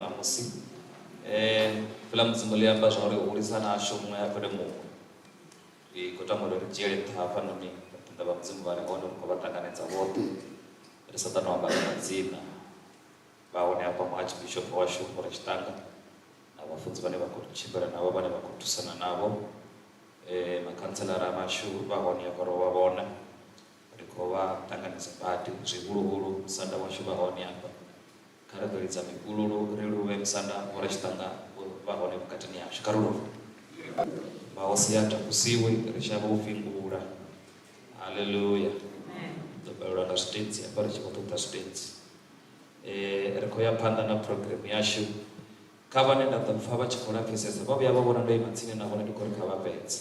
Ṋamusi, fheḽa Mudzimu ḽi amba zwa uri u hulisa na ashu muṅwe a fhele muṅwe. Ri khou tama uri ri dzhiele nṱha hafhanoni vhapiṋda vha Mudzimu vha re hone, ri khou vha ṱanganedza vhoṱhe, ri sa ṱanu amba nga madzina, vha hone hafha Muarchbishop washu Vho Rachitanga na vhafunzi vhane vha khou tshimbila navho, vhane vha khou thusana navho, makhantshelara vhashu vha hone hafha ro vha vhona, ri khou vha ṱanganedza badi, zwihuluhulu musanda washu vha hone hafha. Kha ri ḓo lidza mipululu, ri luvhe musanda wa uri tshiṱanda u vha hone vhukatini hashu. Kha ri luve. Mahosi a takusiwe, ri shavhe u fhingula. Haleluya! Ri ḓo fhelelwa nga zwitentsi hafha ri tshi khou ṱoḓa zwitentsi. Eh, ri khou ya phanḓa na program yashu. Kha vhane nda ḓo pfa vha tshi khou lapfesesa, vha vhuya vha vhona ndo ima tsini na vhone ndi khou ri kha vha fhedze.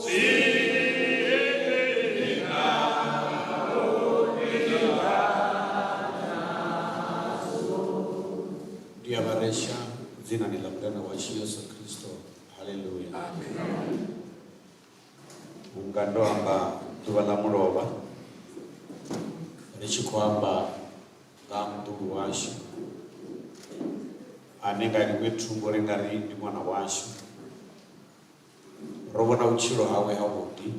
Ndiyabaresha dzina ni ḽa mudana washu yesu khristo haleluya vhunga ndo amba ḓuvha ḽa mulovha ri tshi khou amba nga ha muḓulu washu ane nga ḽiṅwe thungo ri nga ri ndi ṅwana washu Ro vhona vhutshilo hawe havhuḓi,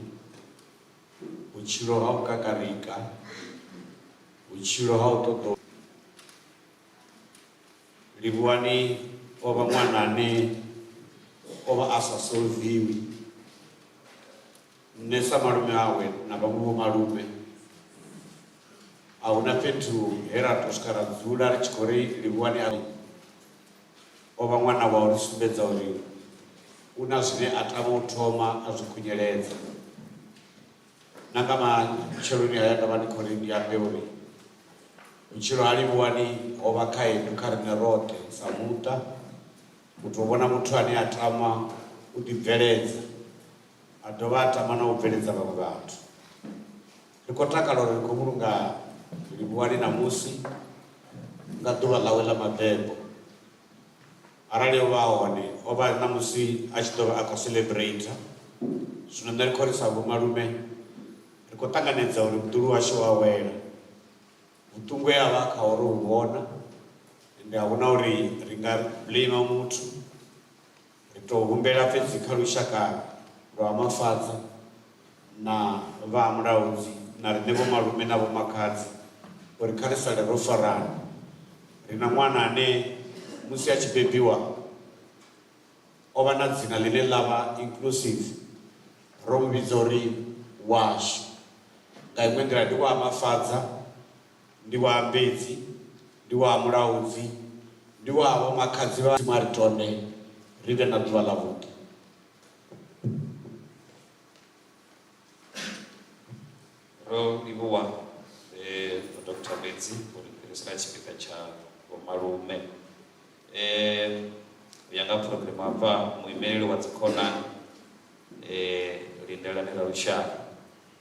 vhutshilo ha u kakarika, vhutshilo ha u ṱoḓa Livhuwani o vha ṅwana ane o vha a sa solviwi. Nṋe sa malume awe na vhaṅwe vho malume a huna fhethu he ra to swika ra dzula ri tshi khou ri Livhuwani a O vha ṅwana wau ḽi sumbedza uri u na zwine a tama u thoma a zwi khunyeledza. Na nga matsheloni haya ndo vha ndi khou ri ndi ambe uri vhutshilo ha Livhuwani ho vha khaedu kha riṋe roṱhe sa muṱa, u tou vhona muthu ane a tama u ḓibveledza a dovha a tama na u bveledza vhaṅwe vhathu. Ri khou takala uri ri khou vhulunga Livhuwani ṋamusi nga ḓuvha ḽawe ḽa mabebo. Arali o vha a hone, o vha ṋamusi a tshi ḓo vha a khou celebrater. Zwino nṋe ri khou ri sa vhomalume ri khou ṱanganedza uri muḓulu washu o awela. Vhuṱungu he a vha a khaho ro vhu vhona, ende a hu na uri ri nga blamer muthu. Ri tou humbela fhedzi kha lushaka lwa Ha Mafadza na vha Ha Mulaudzi na riṋe vhomalume na vhomakhadzi uri kha ri sale ro farana. Ri na ṅwana ane musi a tshi bebiwa o vha na dzina ḽine ḽa vha Inclusive, ro mu vhidza uri Washu. Nga iṅwe nḓila ndi wa Ha Mafadza. ndi wa Ambedzi, ndi wa ha Mulaudzi, ndi wa ha vhomakhadzi vha. Mudzimu a ri tonde ri vhe na ḓuvha ḽavhuḓi. Ro livhuwa Vho Doctor Mbedzi u ri fhirisela tshipiḓa tsha vhomalume. U ya nga phurogireme hafha, muimeleli wa Dzikhonani Lindelani Ralushaha.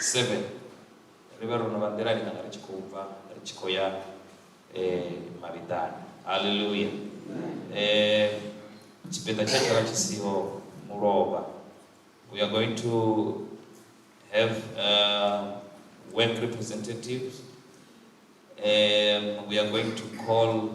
7 ri vhe ro no vha nḓilani kana ri tshi khou bva ri tshi khou ya um mavhiḓani halleluya um tshipiḓa tshe tsha vha tshi siho mulovha we are going to have uh, work representatives um, we are going to call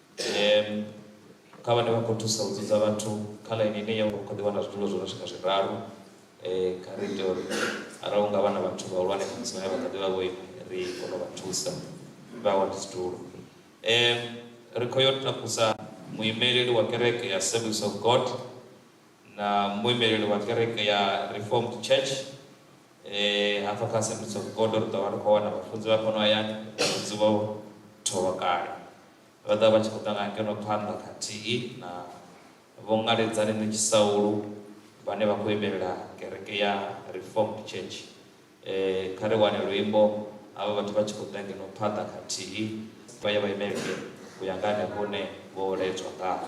Ee, kha vhane vha khou thusa u dzudza vhathu kha ḽaini ine ya khou ḓi wana zwiḽiwa zwo no swika zwiraru kha ri ite uri arali hu nga vha na vhathu vhahulwane khamusi vhane vha kha ḓi vha vho ima ri kone u vha thusa vha wane tshidulo. Ri khou yo takusa muimeleli wa kereke ya Assemblies of God na muimeleli wa kereke ya Reformed Church E, hafha kha Assemblies of God ri ḓo vha ri khou wana vhafunzi vha fhano hayani vhafunzi vho tholwa kale vha ḓa vha tshi khou ṱangana ngeno phanḓa khathihi na Vho Ngaledzani Netshisaulu vhane vha khou imelela kereke ya Reformed Church. E, kha ri wane luimbo havha vhathu vha tshi khou ḓa ngeno phanḓa khathihi vha ye vha imele u ya nga henefho hune vho ledzwa ngaho.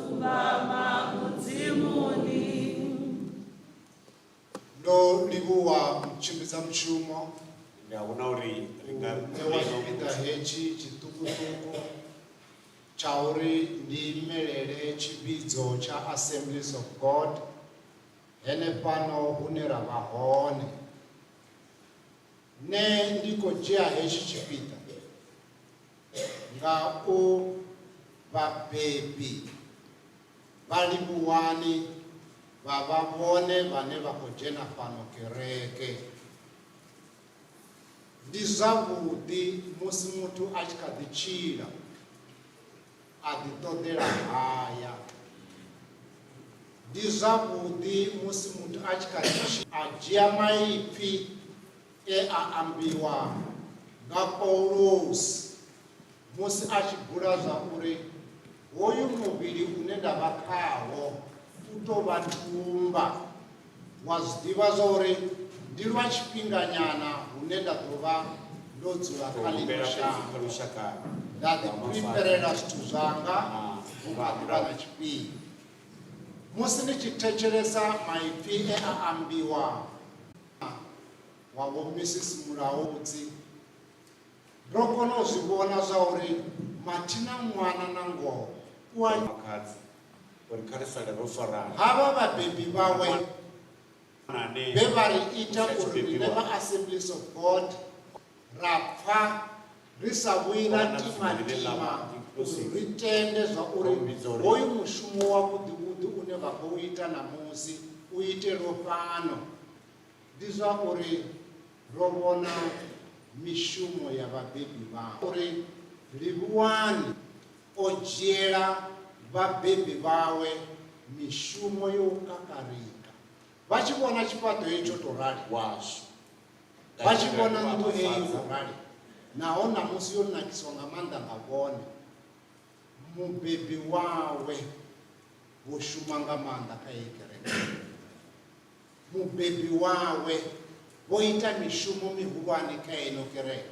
Tsumbama Mudzimuni. Ndo livhuwa tshimbidza mushumo. Ndi a vhona uri ri nga ṋewa tshipiḓa hetshi tshiṱukuṱuku tsha uri ndi imelele tshivhidzo tsha Assemblies of God henefhano hune ra vha hone. Nṋe ndi khou dzhia hetshi tshipiḓa nga u vhabebi vha livhuwani vha vha vhone vhane vha khou dzhena fhano kereke. Ndi zwavhuḓi musi muthu a tshi kha ḓi tshila a ḓi ṱoḓela haya ndi zwavhuḓi musi muthu a tshi kha ḓi a dzhia maipfi e a ambiwa nga Paulusi musi a tshi bula zwa uri hoyu muvhili une nda vha khawo u tou vha tumba wa zwi ḓivha zwa uri ndi lwa tshifhinganyana hune nda ḓo vha ndo dzula kha ḽino shango nda ḓipriperela zwithu zwanga vhukatula na tshifhinga musi ni tshi thetshelesa maipfi e a ambiwa wa Vho Mrs Mulaudzi, ro kona u zwi vhona zwa uri mathina ṅwana na ngoho u a. Makhadzi uri kha ri sale ro farana. Havha vhabebi vhawe vhe vha ri ita uri rine vha Assemblies of God ra pfa ri sa vhuyi ra timatima uri ri tende zwa uri hoyu mushumo wa vhuḓivhuḓi une vha khou ita ṋamusi u itelwo fhano. Ndi zwa uri ro vhona mishumo ya vhabebi vhavho uri Livhuwani o dzhiela vhabebi vhawe mishumo yo u kakarika vha tshi vhona tshifhaṱo hetsho tou rali washu. Vha tshi vhona nnḓu eyi yo rali naho ṋamusi yo nakiswa nga maanḓa nga vhone, mubebi wawe vho shuma nga maanḓa kha heyi kereke. Mubebi wawe vho ita mishumo mihulwane kha ino kereke.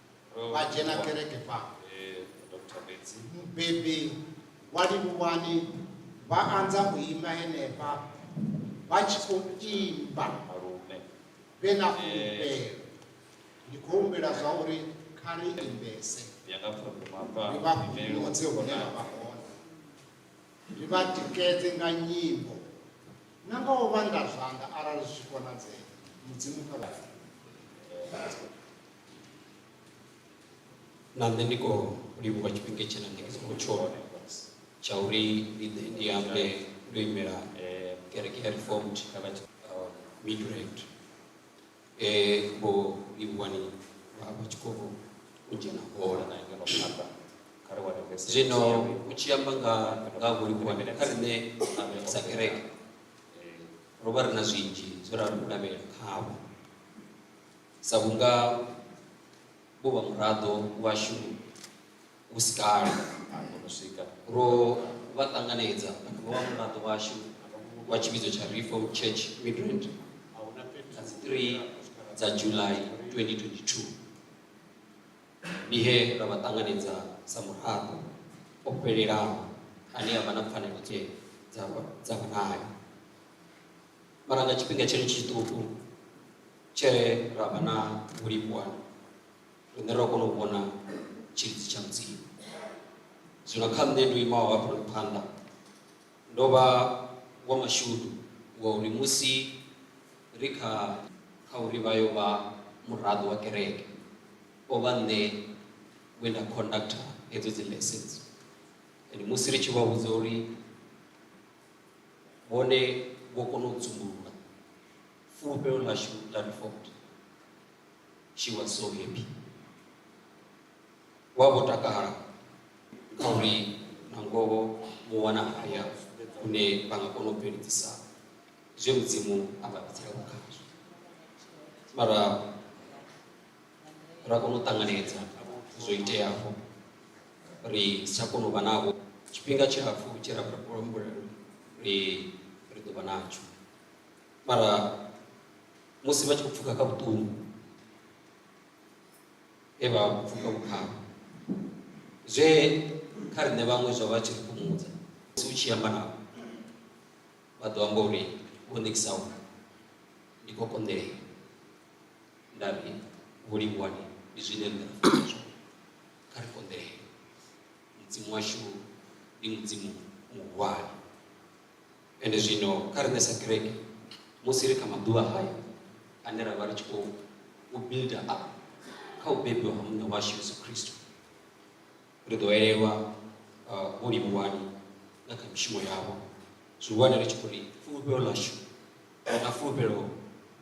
vha dzhena kereke fa mubebi wa livhuwani vha anza u ima henefha vha tshi khou imba vhe na fulufhelo ndi khou humbela zwa uri kha ri imbese ri vha fhumodze hune vha vha hone ri vha tikedze nga nyimbo na nga u vhanda zwanḓa arali zwi tshi konadzea mudzimu kha vhathu na nṋe ndi khou livhuwa tshifhinga tshena ndi songo tshola tsha uri ndi ḓe ndi ambe ndo imela kereke ya reformed midrand e vho livhuwani vha vha tshi khou u dzhena hola na ngeno phanḓa zwino u tshi amba nga nga vho livhuwani kha riṋe sa kereke ro vha ri na zwinzhi zwe ra lavhelela khavho sa vhunga vho vha muraḓo washu hu si kale no swika ro vha ṱanganedza vho vha muraḓo washu wa tshivhidzo tsha Reform Church Midrand nga dzi 3 dza July 2022 ndi he ra vha ṱanganedza sa muraḓo o fhelelaho ane a vha na pfanelo tshee dza vha nayo mara nga tshifhinga tshiri tshiṱuku tshe ra vha na vhulivhuwana riṋe ro kona u vhona tshilidzi tsha mudzimu zwino kha nṋe ndo imaho hafhanoni phanḓa ndo vha wa mashudu wa uri musi ri kha kha uri vha yo vha muraḓo wa kereke o vha nṋe we nda conductor hedzo dzi lessons and musi ri tshi vha vhudza uri hone vho kona u dzumbulula fulufhelo ḽashu ḽa default she was so happy wa vho takala kha uri na ngoho mu wana haya hune vha nga kona u bveledzisa zwe mudzimu a vha bvisela khazwo mara ra kona u ṱanganedza zwo iteaho ri si tsha kona u vha navho tshifhinga tshilapfhu tshi ra humbula ri ri ḓo vha natsho mara musi vha tshi khou pfuka kha vhuṱungu he vha pfuka vhukhava zwe kha riṋe vhaṅwe zwo vha tshi ri fhumudza musi u tshi amba navho vha ḓo amba uri vho ṋekisaho ndi khou konḓelela ndavhi vho livhuwani ndi zwine nṋe na funa zwone kha ri konḓee mudzimu washu ndi mudzimu muhulwane ende zwino kha riṋe sa kereke musi ri kha maḓuvha hayo ane ra vha ri tshi khou u builda up kha u bebiwa ha muṋe washu yesu kristo ri ḓo elelwa uh, vho livhuwani na kha mishumo yavho zwihulwane ri tshi khou ri fulufhelo ḽashu na fulufhelo